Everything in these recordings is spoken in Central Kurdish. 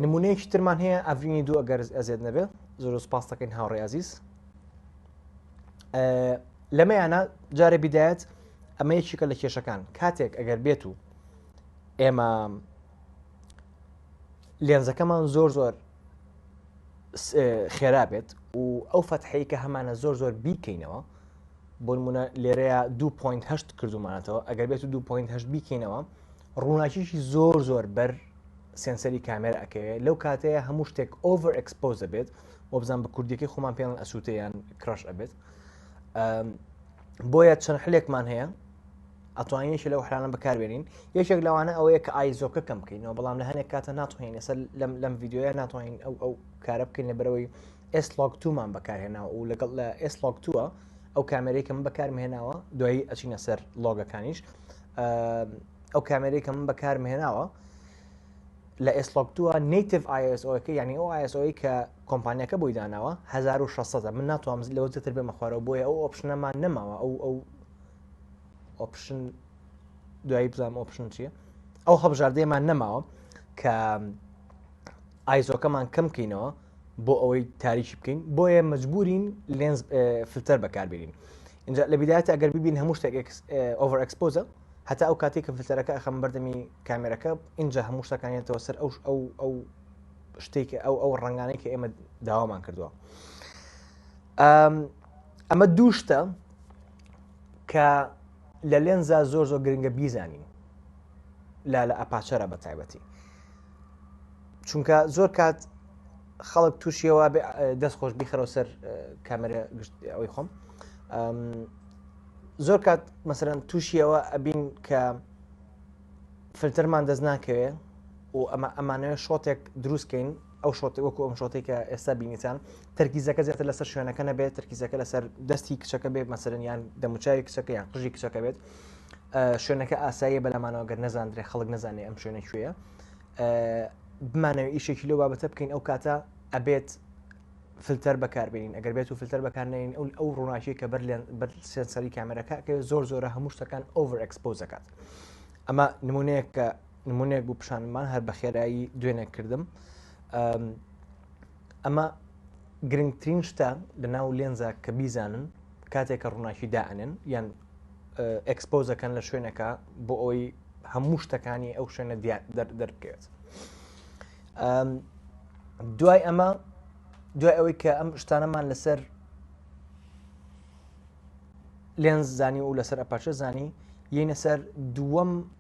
نمونەیەکی ترمان هەیە ئەڤینی دوو ئەگەر ئەزێت نەبێ زۆر سپاس دەکەین هاوڕێ ئازیز لەمەیانە جارێ بدایەت ئەمە یەکێکە لە کێشەکان کاتێک ئەگەر بێت و ئێمە لێنزەکەمان زۆر زۆر خێرا بێت و ئەو فەتحەیە کە هەمانە زۆر زۆر بیکەینەوە بۆ نمونە لێرەیە 2.8 کردومانەتەوە ئەگەر بێت 2.8 بیکەینەوە ڕووناکیشی زۆر زۆر بەر سنسەری کامێرە ئەکەوێت لەو کاتەیە هەموو شتێک ئۆڤەر ئەکسپۆز دەبێت بۆ بزان بە کوردیەکەی خۆمان پێیان ئەسووتیان کڕش ئەبێت بۆیە چەند حلێکمان هەیە ئەتوانین یەکێ لەو حلانە بەکاربێنین یەکێک لەوانە ئەوەیە کە ئایزۆکە کەم بکەینەوە بەڵام لە هەنێک کاتە ناتوانین لەسە لەم لەم یددیوە ناتوانین ئەو ئەو کارە بکەین لە بەرەوەی ئێسلۆک تومان بەکارهێناوە و لەگەڵ لە ئێسلۆک تووە ئەو کامێرێکم بەکارمهێناوە دوایی ئەچینە سەر لۆگەکانیش ئەو کامێرێکم بەکارمهێناوە لە ئێسلۆک تووە نیتف آیSOەکە یعنی ئەو آیSOی کە کۆمپانیەکە بۆی داناوە 1600 من ناتوانم لەوە زیاتر بێمە خوارەوە بۆیە ئەو ئۆپشنەمان نەماوە ئەو ئەو ئۆپشن دوایی بزانام ئۆپشن چیە ئەو هەبژاردەیەمان نەماوە کە ئایزۆکەمان کەم بکەینەوە بۆ ئەوەی تاریکی بکەین بۆیە مجبورین لێنز فلتەر بەکاربیین اینجا لە بدایەت ئەگەر ببین هەموو شتێک ئۆڤەر ئەکسپۆزە هەتا ئەو کاتێک کە فلتەرەکە ئەخەم بەردەمی کامێرەکە اینجا هەموو شتەکانێتەوە سەر ئەو ئەو ئەو شتێک ئەو ئەو ڕنگانەی کە ئێمە داوامان کردووە ئەمە دوو شتە کە لە لێنزا زۆر زۆر گرنگە بیزانین لا لە ئەپاچەرە بە تایبەتی چونکە زۆر کات خەڵک تووشیەوە دەست خۆش بیخەرەوە سەر کامێرە گشت ئەوی خۆم زۆر کات مەسەرەن تووشیەوە ئەبین کە فلتەرمان دەست ناکەوێ و ئەمە ئەمانەوە شۆتێک دروستکەین ئەو شۆتە وەکو ئەم شۆتەی کە ئێستا بینیتان تەرکیزەکە زیاتر لەسەر شوێنەکە نەبێت تەرکیزەکە لەسەر دەستی کچەکە بێت مەسەرنیان دەموچوی کچەکە یان قژی کچەکە بێت شوێنەکە ئاساییە بەلامانەوە گەر نەزانندرێ خەڵک نزانێ ئەم شوێنە کوێە بمانەوە ئیشێکی لەو بابەتە بکەین ئەو کاتە ئەبێت فلتەر بەکاربیین ئەگەر بێت و فلتەر بەکارنین ئەو ئەو ڕووناکی کە بەر بەر سێنسەری کامێرەکە کە زۆر زۆرە هەموو شتەکان ئۆڤر ئەکسپۆزەکات ئەمە نمونەیە کە نمونەیەک بوو پیشانمان هەر بەخێرایی دوێنێک کردم ئەمە گرنگترین شتە لە ناو لێنزە کە بیزانن کاتێکە ڕووناکی دائنێن یان ئەکسپۆزەکەن لە شوێنەکە بۆ ئەوی هەموو شتەکانی ئەو شوێنە دەرکەوێت دوای ئەمە دوای ئەوەی کە ئەم شتانەمان لەسەر لێنز زانی و لەسەر ئەپەچە زانی یینە سەر دووەم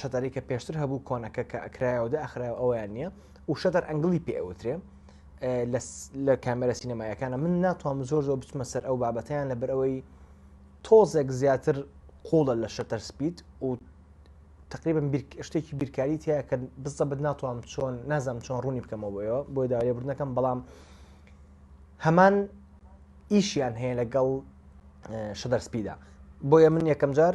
شەتەرەی کە پێشتر هەبوو کۆنەکە کە ئەکرایەوە دە ئەخرای ئەویان نییە و شەتەر ئەنگلی پێ ئەوترێ لە کامێرە سینەمایەکانە من ناتوانم زۆر زۆر بچمە سەر ئەو بابەتیان لەبەر ئەوەی تۆزێک زیاتر قوڵە لە شەتەر سپیت و تقریبم شتێکی بیرکاری تیا کە بزەبت ناتوانم چۆن نازم چۆن ڕوونی بکەمەوەەوە بۆی داوای بردنەکەم بەڵام هەمان ئیشیان هەیە لەگەڵ شەدەر سپیدا بۆیە من یەکەم جار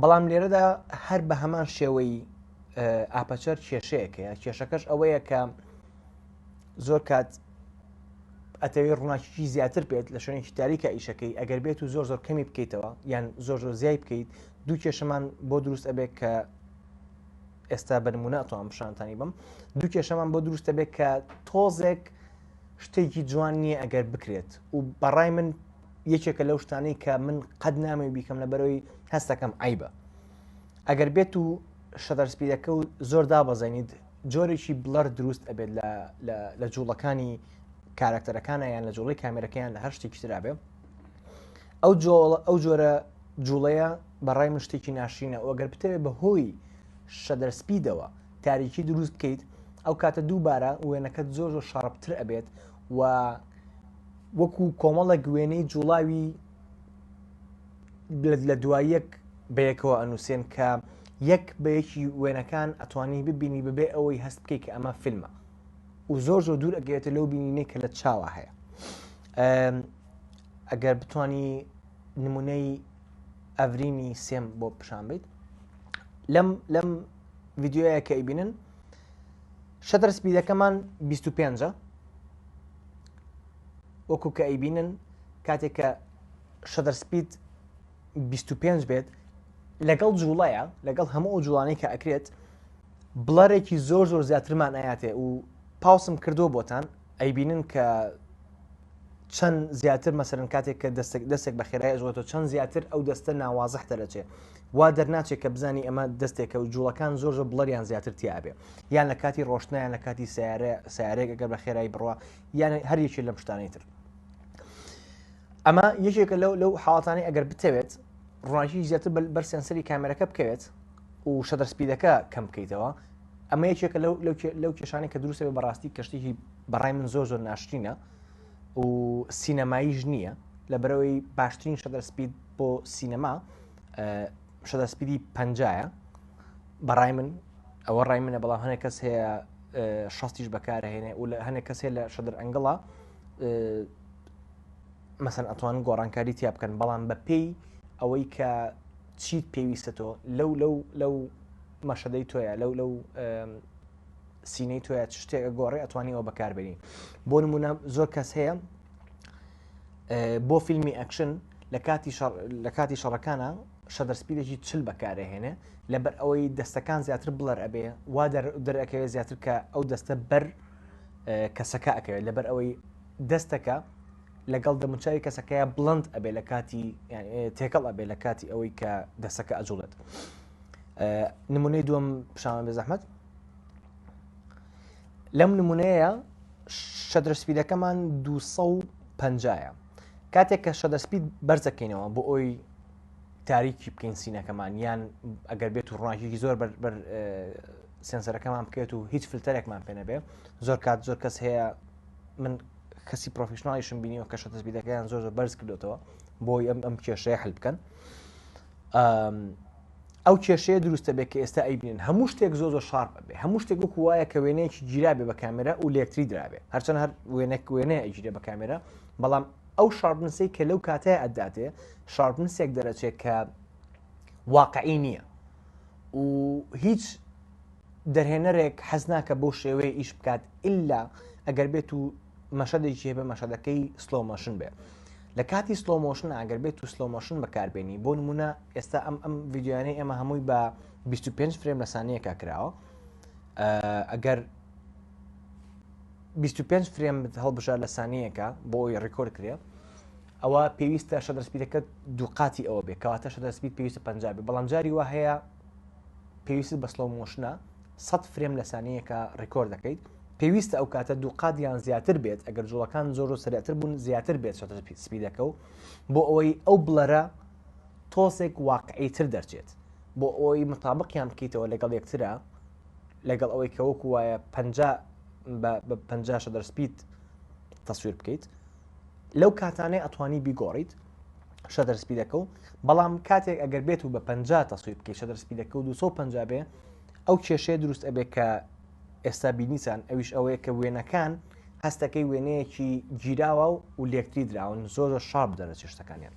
بەڵام لێرەدا هەر بە هەمان شێوەی ئاپەچەر کێشەیەکەیە کێشەکەش ئەوەیە کە زۆر کات ئەتەوێ ڕووناکیی زیاتر بێت لە شوێنێکی تاریکە ئیشەکەی ئەگەر بێت و زۆر زۆر کەمی بکەیتەوە یان زۆر زۆر زیای بکەیت دوو کێشەمان بۆ دروست ئەبێت کە ئێستا بەرمونە توان پیششانتانی بم دوو کێشەمان بۆ دروستە بێت کە تۆزێک شتێکی جوان نییە ئەگەر بکرێت و بەڕای من یەکێکە لەو شتانەی کە من قەت نامێ بیکەم لە بەرەوەی هەستەکەم عیبە ئەگەر بێت و شەدەرسپیرەکە و زۆر دابەزێنیت جۆرێکی بڵەر دروست ئەبێت لە جوڵەکانی کارکتەرەکانە یان لە جوڵی کامێرەکەیان لە هەر شتێکی ترابێ ئەو جۆڵە ئەو جۆرە جوڵەیە بەڕای من شتێکی ناشرینە ئەوگەر بتەوێت بە هۆی شەدەرسپیدەوە تاریکی دروست بکەیت ئەو کاتە دووبارە وێنەکەت زۆر زۆر شارپتر ئەبێت و وەکو کۆمەڵێک وێنەی جوڵاوی لە دوای یەک بەیەکەوە ئەنووسێن کە یەک بەیەکی وێنەکان ئەتوانی ببینی بەبێ ئەوەی هەست بکەیت کە ئەمە فیلمە و زۆر زۆر دوور ئەگەێتە لەو بینینەی کە لە چاوە هەیە ئەگەر بتانی نمونەی ئەڤرینی سێم بۆ پیشان بیت لەم لەم ڤیددیوەیە کە ئەیبینن شەدرسپی دەکەمان 25 وەکو کە ئەیبینن کاتێک کە شەدەر سپید 25 بێت لەگەڵ جوڵەیە لەگەڵ هەموو ئەو جوڵانەی کە ئەکرێت بڵەرێکی زۆر زۆر زیاترمان ئااتێ و پاوسم کردووە بۆتان ئەیبینن کە چەند زیاتر مەسەرن کاتێک کە دەستێک دەستێک بە خێرای ئەزۆتە چەند زیاتر ئەو دەستە ناوازح دەرەچێت وا دەرناچێت کە بزانی ئەمە دەستێکە و جوڵەکان زۆر زۆر بڵەریان زیاتر تیاابێ یان لە کاتی ڕۆشتنیان لە کاتی سیارە سیارێکەکە بە خێرایی بڕە یان هەریەکی لەم شتانی تر ئەمە یەکێکە لەو لەو حاڵاتانی ئەگەر بتەوێت ڕۆژی زیاتر بەر سنسەری کامێرەکە بکەوێت و شەدەر سپیدەکە کەم بکەیتەوە ئەمە یەکێکە لەو لەو کێشانی کە دروستە بە ڕاستی کەشتێکی بەڕای من زۆر زۆر ناشتینە و سینەماییش نییە لە بەرەوەی باشترین شەدەر سپید بۆ سینەما شەدا سپیدی پەنجایە بەڕای من ئەوە ڕای منە بەڵام هەنێک کەس هەیە شەستیش بەکارهێنێ و لە هەنێک کەسێ لە شەدر ئەنگڵا مەسەن ئەتوان گۆڕانکاری تیا بکەن بەڵام بە پێی ئەوەی کە چیت پێویستە تۆ لەو لەو لەو مەشەدەی تۆیە لەو لەو سینەی تۆە شتێک گۆڕێ ئەتوانی ئەوە بەکاربێنی بۆ نمونە زۆر کەس هەیە بۆ فیلمی ئەکشن لە کاتی لە کاتی شەڕەکانە شەدەرسپیدێکی چل بەکارەهێنێ لەبەر ئەوەی دەستەکان زیاتر بڵەر ئەبێ وا دەرەکەوێت زیاتر کە ئەو دەستە بەر کەسەکە ئەکەوێت لەبەر ئەوەی دەستەکە لەگەڵ دەموچوی کەسەکەیە بڵند ئەبێ لە کاتی تێکەڵ ئەبێ لە کاتی ئەوەی کە دەسەکە ئەجوڵێت نمونەی دوم پیشان بێ زەحمت لەم نمونەیە شەدرسپیدەکەمان 250ە کاتێک کە شەدەسپید بەرزەکەینەوە بۆ ئەوی تاریکی بکەین سینەکەمان یان ئەگەر بێت و ڕۆژێکی زۆر بەر سنسەرەکەمان بکەێت و هیچ فلتەرێکمان پێ نەبێ زۆر کات زۆر کەس هەیە من کەسی پرۆفیشنناڵیشم بینیەوە کە شەتەسبیدەکەیان زۆر زۆر بەرز کردوێتەوە بۆی ئەم ئەم کێشەیە هەل بکەن ئەو کێشەیە دروستە بێت کە ئێستا ئەیبنین هەموو شتێک زۆ زۆر شارپ بێ هەموو شتێک وەکو وایە کە وێنەیەکی گیرابێ بە کامێرا و لێکتری درابێ هەرچەند هەر وێنەک وێنەیە ئەگیرێ بە کامێرا بەڵام ئەو شارپنسی کە لەو کاتەیە ئەداتێ شارپنسێک دەرەچێت کە واقعی نییە و هیچ دەرهێنەرێک حەز ناکە بۆ شێوەیە ئیش بکات ئللا ئەگەر بێت و مەشەدێکی هەبێ مەشەدەکەی سلۆمەشن بێ لە کاتی سلۆ مۆشن ئەگەر بێت و سلۆ مۆشن بەکاربێنی بۆ نمونە ئێستا ئەم ئەم ڤیددیوانەی ئێمە هەمووی بە 25 فرێم لە سانیەکە کراوە ئەگەر 25 فرێم هەڵبژار لە سانیەکە بۆ ئەوی ڕیکۆرد کرێ ئەوە پێویستە شە دەستپیرەکە دووقاتی ئەوە بێ کەواتە شە دەستپیت پێویستە پنج بێ بەڵام جاری وە هەیە پێویست بە سڵۆ مۆشنە سەد فرێم لە سانیەیەکە ڕیکۆرد دەکەیت پێویستە ئەو کاتە دوو قات یان زیاتر بێت ئەگەر جوڵەکان زۆر و سرەتر بوون زیاتر بێت شەتە سپیدەکە و بۆ ئەوەی ئەو بڵەرە تۆسێک واقعی تر دەرچێت بۆ ئەوەی مطابقیان بکەیتەوە لەگەڵ یەکترا لەگەڵ ئەوەی کە وەکو وایە پ بە پ دەر سپید تەسویر بکەیت لەو کاتانەی ئەتوانی بیگۆڕیت شەدەر سپیدەکە و بەڵام کاتێک ئەگەر بێت و بە پ تەسویر بکەیت شەدەر سپیدەکە و 250 بێ ئەو کێشەیە دروست ئەبێ کە ئێستا بینیسان ئەویش ئەوەیە کە وێنەکان هەستەکەی وێنەیەکی گیراوە و و لەکتری دراون زۆر شاب دەرەچ شتەکانیان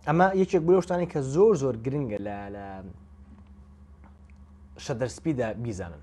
ئەمە یەکێک بۆشتانی کە زۆر زۆر گرنگە لە لە شەدەرسپیدا بیزانن